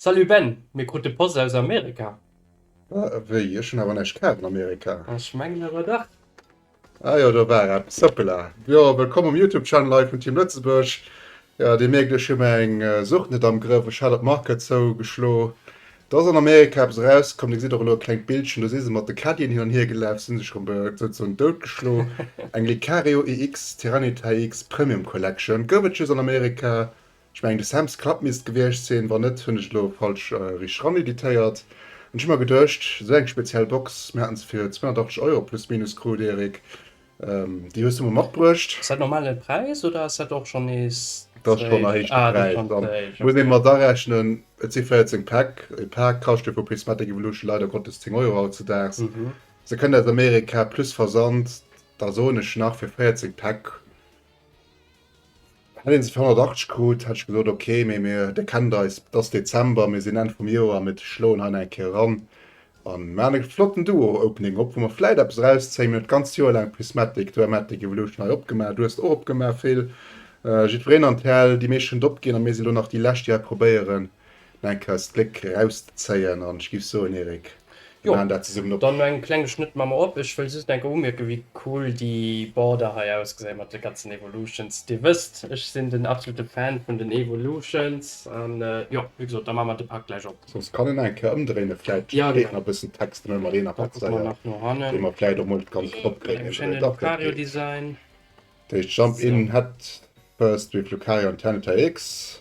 Salut Ben, mir krute Post aus Amerika. Wéi? Ech hunn awer näischt kaaft an Amerika. Ech mengen awer dach. Ah jo, do war eppes. Hoppela. Jo, wëllkomm um Youtube Channel hei vun Team Lëtzebuerg. Jo, Dir mierkt, ech hu mär eng Sucht net am Grëff. Ech hat op Market zou geschlo, do ass an Amerika eppes erauskomm. Dir gesitt och elo e klengt Bildchen, do si se mat de Caddien hin an hier gelaf, si sech rëm souzesoen dout geschlo. Eng Lecario EX Tyranitar EX Premium Collection gouf et just an Amerika, Ech mengen de Sam's Club misst gewiescht sinn, wann net hunn ech elo falsch richteg ran editéiert. An ech hu mer geduecht, esou eng speziell Box, mir haten se fir 280 Euro plus minus krut, Erik, déi hues du mer matbruecht. Ass dat normal de Präis oder ass dat och schonn nees zréck? Dat ass schonn e héichte Präis, da muss ee mat arechnen, et si 14 Päck. E Pak kascht jo vu Prismatic Evolution leider Gottes 10 Euro hautzedaags. Se kënnt aus Amerika plus Versand, da soen ech nach fir 14 Päck. Hätt een se fir 180 krut, hätt ech gesot, ok, mee mir, Dir kennt eis, et ass Dezember, mir sinn Enn vum Joer, mir schloen hei nach eng Kéier eran a mir maachen e flotten Duo-Opening op, wou mer vläicht eppes erauszéien. Mir hunn et d'ganzt Joer laang Prismatic, Duematic, Evolution hei opgemaach, du hues et och opgemaach, Phil, jiddwereen an d'Häll, déi meescht hunn et opginn a mir si lo nach déi Lescht, déi hei probéieren, No eng Kous d'Gléck rauszéien an ech giff soen Eric, mir maan dat zesummen op. Dann no engem klenge Schnëtt maa mer op. Ech wëll just eng Kéier umierken wéi cool déi Border hei ausgesäit mat de ganzen Evolutions. Dir wësst ech sinn den absolute Fan vun den Evolutions an jo wéi gesot da maa mer de Pak gläich op. Soss kann een nach eng Kéier ëmdréinen, vläit steet nach e bëssen Text an ënner deenen Abzeier dee mer vläit och mol net ganz drop kréien. Dach dat geet. Dat heescht Jump in, Head first with Lucario an Tyranitar X.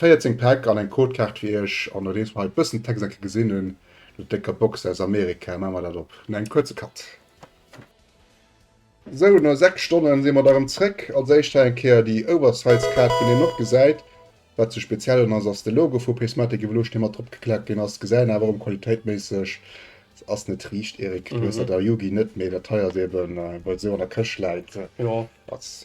14 Päck an eng Codekaart fir iech an nodeems mer hei bëssen Text enke gesinn hunn, no décker Box aus Amerika, maache mer dat op no engem kuerze Cut. Sou, no 6 Stonnen si mer da rëm zréck. Als éischt hei eng Kéier déi Oversize Kaart wou een och gesäit wat sou speziell un ass, ass de Logo vu Prismatic Evolution dee mat drop geklappt ginn ass. Gesäit een awer erëm qualitéitméisseg ass net riicht. Eric, du hues dat a Yugi net, mee dat hei ass eben, well et esou an der Këscht läit, ass.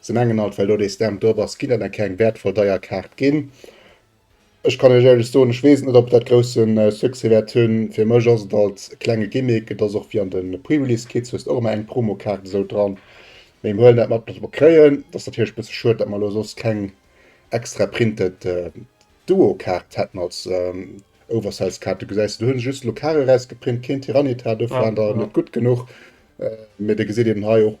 Se mengen alt well do dee Stamp drop ass ginn et engem keng wäertvoll deier Kaart ginn. Ech kann iech éierlech soen, ech weess et net ob et dat grousse Succès wäert hunn. Fir mech ass et alt e klenge Gimmick. Et ass och wéi an de Pre-Release Kits hues de och ëmmer eng Promokaart esou dran. Mee mir huelen dat mat wat mer kréien. Et ass natierlech e bësse schued dat mer elo soss keng extra printed Duo Kaart hätten als Oversize Kaart. Du gesäis se, do hu se just elo Kare rausgeprint, keen Tyranitar, dofir waren der net gutt genuch. Mee dir gesitt eben hei och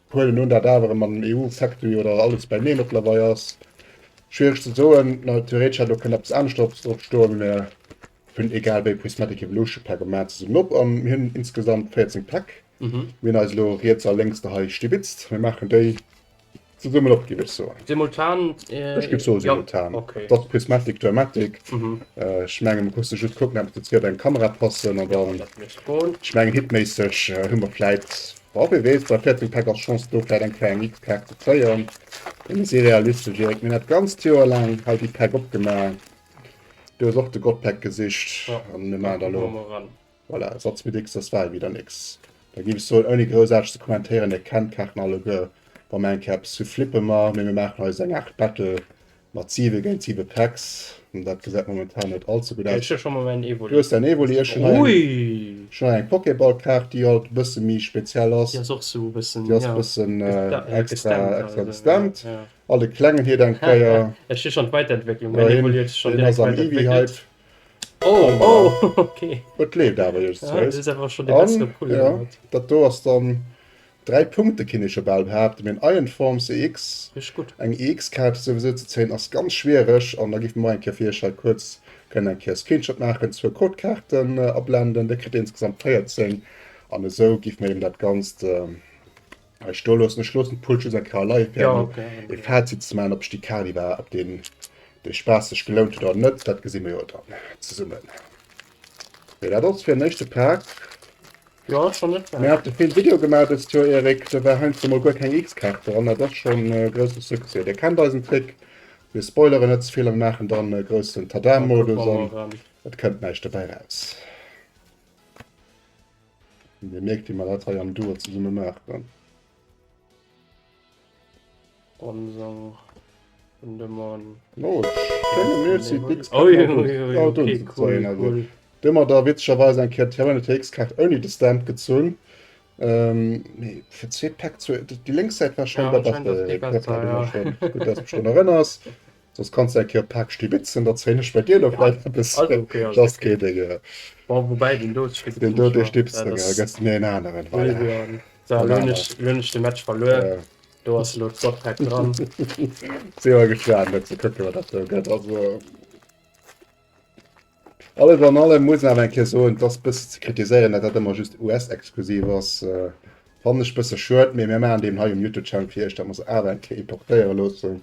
Huelen un dat awer mat dem EU Sectoui oder alles beineen op Lawaai ass. Schwiereg ze soen. Theoretesch hätt och kënnt eppes aneschters drop stoen, mä hunn egal wéi Prismatic Evolution Pack a maan se summen op an hunn insgesamt 14 Päck. Mir hunn eis elo riets a lénks der hei stibitzt. Mir maachen déi zesummen op giff ech soen. Simultan? Ech giff soen simultan. Et ass Prismatic Dramatic. Ech mengen et muss de just kucken eppes dozou op eng Kamera passen an dann, ech mengen hitméisseg hu mer vläit Bon, wee weess, bei 14 Päck ass Chance do vläit eng KNX-Kaart ze zéien, mee mir si realistesch, Eric. Mir hunn dat ganzt Joer laang hei déi Päck opgemaach. Du hues och de Gottpäck gesicht an mir maachen der elo, voilà, Satz mit X, das war wieder nix. Da géif ech soen, ouni groussaarteg ze kommentéieren, Dir kennt d'Kaarten alleguer, wa mer eng Kéier eppes hu flippe mer, mee mir maachen eis eng Aart Battle. Mat 7 géint 7 Packs, dat gesäit momentan net all ze gutt aus. Du hues däin Evoli, ech hunn hei eng Pokéball-Kaart, déi alt e bësse méi speziell ass. Déi ass e bëssen extra gestemmt. Alt e klengen Hiert eng Kéier. Deen ass am Eevee-Hype. Et leeft awer, iech zwouss. Dat do ass dann Dräi Punkte kinne ech jo bal behaapten, mee en Iron Form CX, Richteg gutt. eng EX-Kaart souwisou ze zéien ass ganz schwiereg. An da giff mir mol eng Kéier fir iech hei kuerz kënnen eng Kéier e Screenshot maachen, zwou Codekaarten ablenden, da kritt dir insgesamt 14. An esou giff mir eben dat Ganzt hei stoe loossen. Ech loossen d'Pull just eng Kéier leie fir emol e Fazit ze maachen, ob sech déi Kali war, ob deen, dee Spaass sech gelount huet oder net. Dat gesi mir jo dann zesummen. Mee dat ass fir en éischte Pack. Jo, ass schonn net schlecht. Mir hate vill Video gemaach dëst Joer, Eric. Do war heiansdo mol guer keng X-Kaart dran. Dat ass schonn e grousse Succès. Dir kennt eisen Trick, mir spoileren net ze vill a mir maachen dann e groussen Tada-Modus an et kënnt näischt dobäi raus. Dir mierkt, wéi mer dat hei am Duo zesumme maachen. Dun mer da witzegerweis eng Kéier d'Hero RTX Kaart ouni de Stand gezunn. Mee fir zwee Päck, déi lénks Säit war scheinbar besser, gutt dass du mech drun erënners. Soss kanns de eng Kéier Paak Stibitzen, da zéien ech bei dir elo vläicht eppes. Dass kee deng. Woubäi deen do Stibitzen. Deen do dee Stibitzen, da gëss de mir een aneren. Voilà. Elo hunn ech, elo hunn ech de Match verluer. Do ass elo d'Softpack dran. Sinn mer gespaant, elo ze kucken, wat dat do gëtt. Also. Alles an allem muss een awer eng Kéier soen, et ass e bëssen ze kritiséieren, datt dat ëmmer just US-exklusiv ass. Fannen ech e bësse schued, mee mir maachen deem hei um YouTube-Channel fir Iech, datt mer se awer eng Kéier importéiere loossen.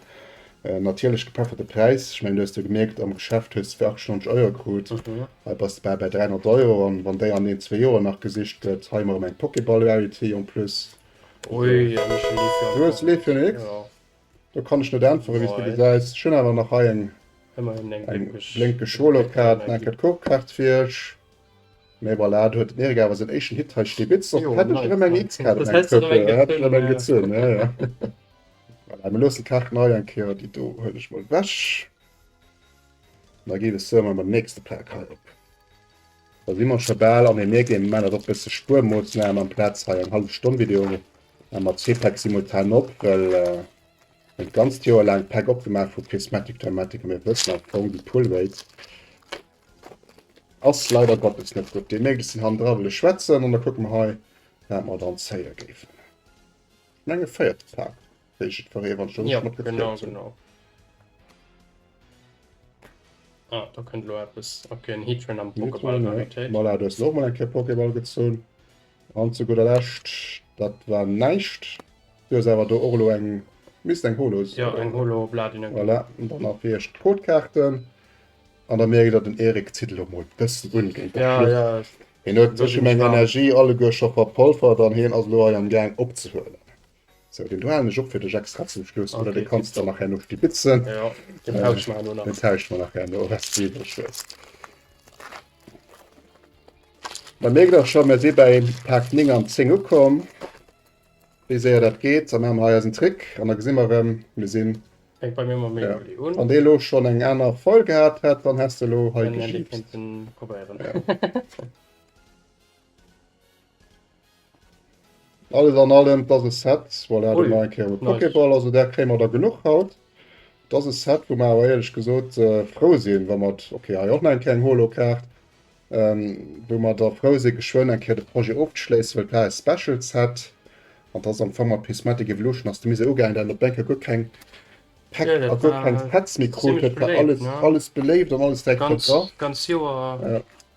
Natierlech gepefferte Präis, ech mengen du hues jo gemierkt, am Geschäft hues de fir 98 Euro krut, hei bass de bal bäi 300 Euro. An wann déi an een, zwee Joer nach gesicht gëtt, hei hu mer erëm eng Pokéball-Rarity en plus. Du hues Leaf Young X. Do kann ech net äntweren wéi s de gesäis. Ech hunn awer nach hei eng blénkeg Solo-Kaart, eng enkel Coop-Kaart fir iech. Mee voilà, et huet Mirka awer säin éischten Hit hei stee. Bitz, och hätt ech erëm eng X-Kaart an engem Trëppel. Ech hätt erëm eng gezunn, jo jo. Voilà, mir loossen d'Kaarten hei eng Kéier, déi do huelen ech mol ewech. An da geet et souer mam nächste Pak hei op. Da si mer scho bal an Energie, mir maachen dat och e bësse spuermooss, maache mer amplaz hei eng hallef Stonn Video Mä mat zwee Päck simultan op, well en d'ganzt Joer laang Päck opgemaach vu Prismatic Dramatic a mir wëssen am Fong déi Pull Rate ass leider Gottes net gutt. Déi Mädels sinn hannendra wëlle schwätzen an da kucke mer hei wat mer dann zéie géifen. Ech mengen e véierte Pack wéi ech et verréen wann ech do richteg mat gefréet hunn. Ah, da kënnt elo eppes. Ok, en Heatran am Pokéball. Voilà, du hues och mol eng Kéier Pokéball gezunn. An zu gudder Lescht, dat war näischt. Du hues awer do och elo eng, misst eng Holo sinn. Jo, eng Holo Bladine. Voilà, an dann nach fir iech d'Codekaarten. An da mierkt der, den Eric zitt elo mol bëssen un géint der Flucht. Ja, ja. Hien huet e bëssche meng Energie alleguer scho verpolfert an hien ass elo hei am Gaang opzehuelen. Sou, deen do haalen ech op fir dech extra zum Schluss, oder dee kanns de nach herno stibitzen. Jo, deen tauschen mer herno nach. Deen tauschen mer nach herno respektiv ech soen s. Mer mierken och scho, mer si bäi Paart 9 an 10 ukomm. Wéi séier dat geet, da maache mer hei eisen Trick an da gesi mer erëm, mir sinn. Fänkt bei mir mam Memory un. Wann dee elo schonn eng aner Foil gehat hätt, dann häss de elo hei gejippst. Dann hätt ee kéinten probéieren. Alles an allem dass e Set voilà do mar eng Kéier mat Pokéball, also där kréie mer der genuch haut. Et ass e Set wou mer awer éierlech gesot frou sinn wa mer, ok hei och nach eng Kéier eng Holokaart, wou mer der frou si geschwënn eng Kéier de Projet ofzeschléissen, well et war e Special Set an et ass am Fong mat Prismatic Evolution ass de Mise ugaangen dat een op eng Kéier guer keng Pack a guer keng Sets méi krut huet, war alles beléift an alles direkt mat dra.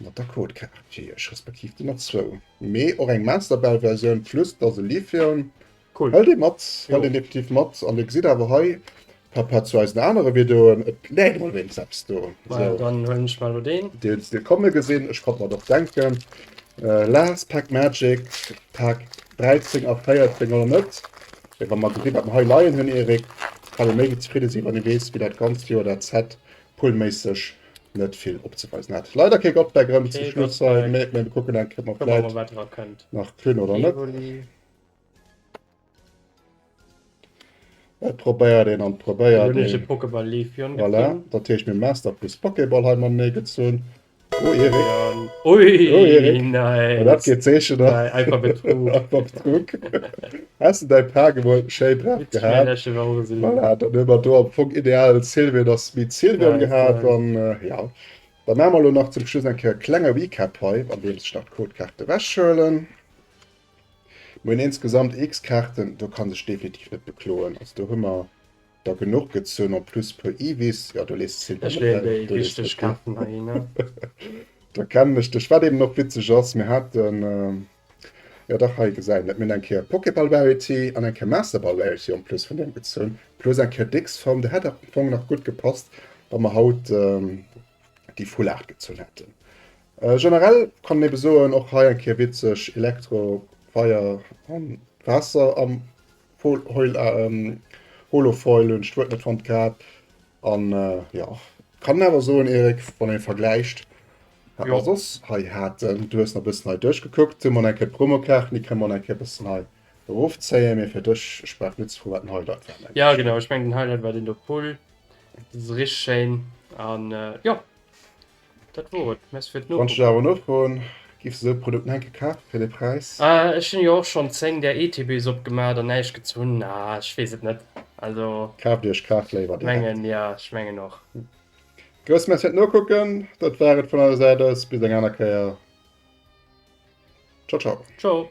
Mat der Code Cartier respektiv den er zwou mee och eng Masterbell Versioun plus dass e Lithium hëlt een mat, hëlt een definitiv mat an dir gesitt awer hei par rapport zu eisen anere Videoen et läit emol wéinst eppes do. Majo dann huelen ech mer elo deen. Deen hues de komme gesinn, ech konnt mer et och denken. Last Pack Magic Pack 13 a 14 oder net? Mee wa mer gesi wat mer hei leien hunn Erik, kann ee méi wéi zefridde sinn wann ee weess wéi dat ganzt Joer dat Set pullméisseg net vill opzeweisen hat. Leider ke Gott Back zum Schluss kucken nach Klin oder net. Et probéiert een an probéiert Dat heescht mir Master plus Pokéball hei mam Née gezunn. Ui Dat geet zeechen. Has de däi Paar gewuel schéi draf gehat? Voilà, dann hu mer do am Fong ideal Silvio ass meet Silvio gehat. An jo, da maache mer elo nach zum Schluss eng Kéier e klenge Recap hei, andeems ech nach d'Codekaarte ewechhuelen. Mir hunn insgesamt x Kaarten, do ka sech definitiv net bekloen. Also do hu mer der genuch gezunn, en plus puer Eewees. Jo, do lees de Silvio net hei, do lees de Steve. Da kennen ech dech. Wat eeben och witzeg ass, mir haten. Jo dach hei gesäit een et. Mir hunn eng Kéier Pokéball Variety an eng Kéier Master Ball Variety en plus vun deem gezunn, plus eng Kéier décks Form. Dat hätt am Fong nach gutt gepasst, wa mer haut déi full Aart gezunn hätten. Generell kann een ebe soen, och hei eng Kéier witzeg, Elektro, Feier an Waasser am Holofoil. Hunn d'Wuert net fonnt gehat an jo kann een awer soen, Erik, wann een vergläicht Wat mer soss hei haten, du hues nach e bëssen hei duerchgekuckt, hu mer nach eng Kéier d'Promokaarten, déi kënne mer nach eng Kéier e bëssen hei erofzéien. Mee fir dech, ech brauch net ze froen, wat den Highlight war, mengen ech. Jo, genau, ech mengen, den Highlight war deen do, Pull. Dat ass richteg schéin. An jo, dat wor et. Merci fir d'Nofro. Wann ech dech awer elo froen, giff s de esou e Produkt nach eng Kéier kafen, fir dee Präis? Ech hunn jo och schonn 10 där ETBs opgemaach an näischt gezunn. Ah, ech weess et net. Also, Kaaft Iech, kaaft léiwer direkt. mengen, jo, ech mengen och. Grousse Merci fir d'Nokucken. Dat war et vun eiser Säit aus. Bis eng aner Kéier. Ciao, ciao. Ciao.